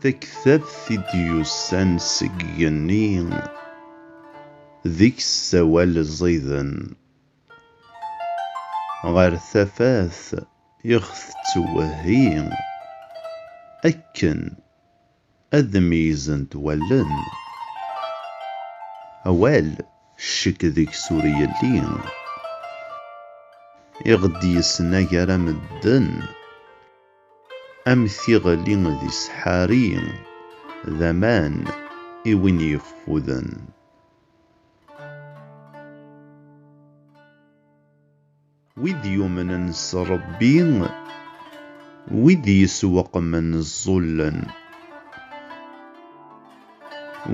taktabt i d-yussan seg igenni deg-s sawal ẓiden. Ɣer tafat ixet tettwehhi akken ad d-meyyzent wallen. Awal, ccek deg-s ur yelli. I ɣ-d-yesna gar-a medden. Am tiɣli d iseḥḥari, d aman i win yeffuden. Wid yumnen s Ṛebbi, wid yesweqmen ẓẓullen,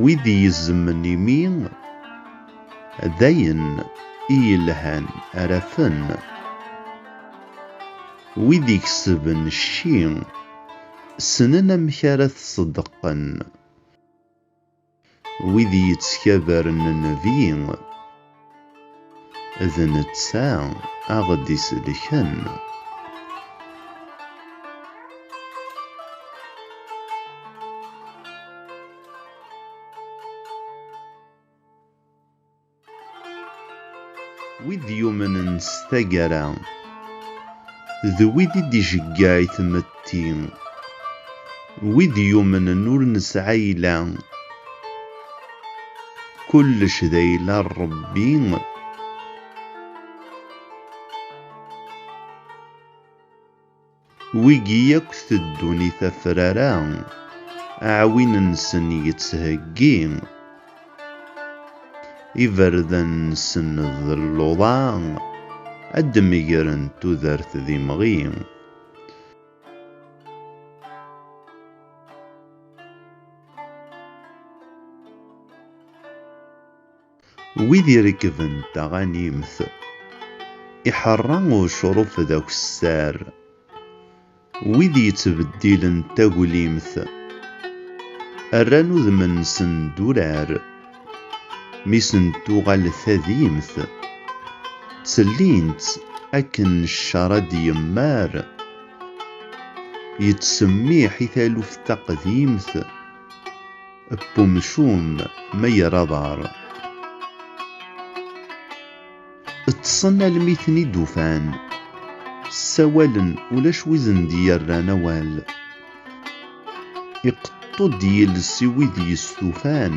wid yezzmen imi, d ayen i yelhan ara afen, wid ikesben cci, ssnen amek ara t-ṣeddqen. Wid i yettkabaren Nnbi, d netta a ɣ-d-isellken. Wid yumnen s taggara, d wid i d-ijeggeɛ i tmetti. Wid yumnen ur nesɛi ayla, kullec d ayla n Ṛebbi. Wigi akk teddun i tafrara, aɛwin-nsen yettheggi, iberdan-nsen d luḍa, ad d-megren tudert d imɣi. Wid irekben taɣanimt. Iḥerra ucruf d akessar. Wid yettbeddilen taglimt. Rran udem-nsen d urar. Mi sen-tuɣal tadimt. Ttellintt akken ccer ad d-yemmar. Yettsemmiḥ i taluft taqdimt. Ep umcum ma yerra aḍar. Ṭṭsen almi ten-id-ufan. Ssawalen ulac wizen d-yerran awal. Iqeṭṭu-d yiles i wid yestufan.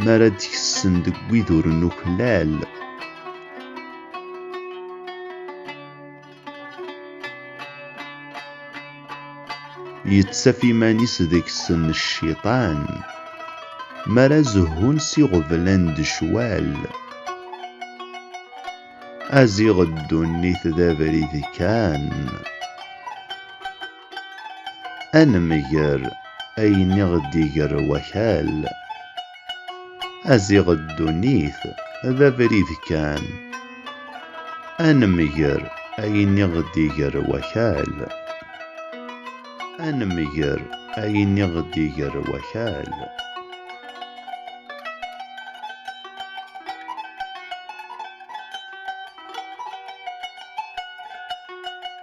M'ara d-kessen deg wid ur nuklal. Yettaf iman-is deg-sen cciṭan, mi ara zehhun s iɣeblan d ccwal. Aziɣ ddunit d abrid kan. Ad nemger ayen i ɣ-d-iger wakal. Aziɣ ddunit d abrid kan. Ad nemger ayen i ɣ-d-iger wakal. Ad nemger ayen i ɣ-d-iger wakal.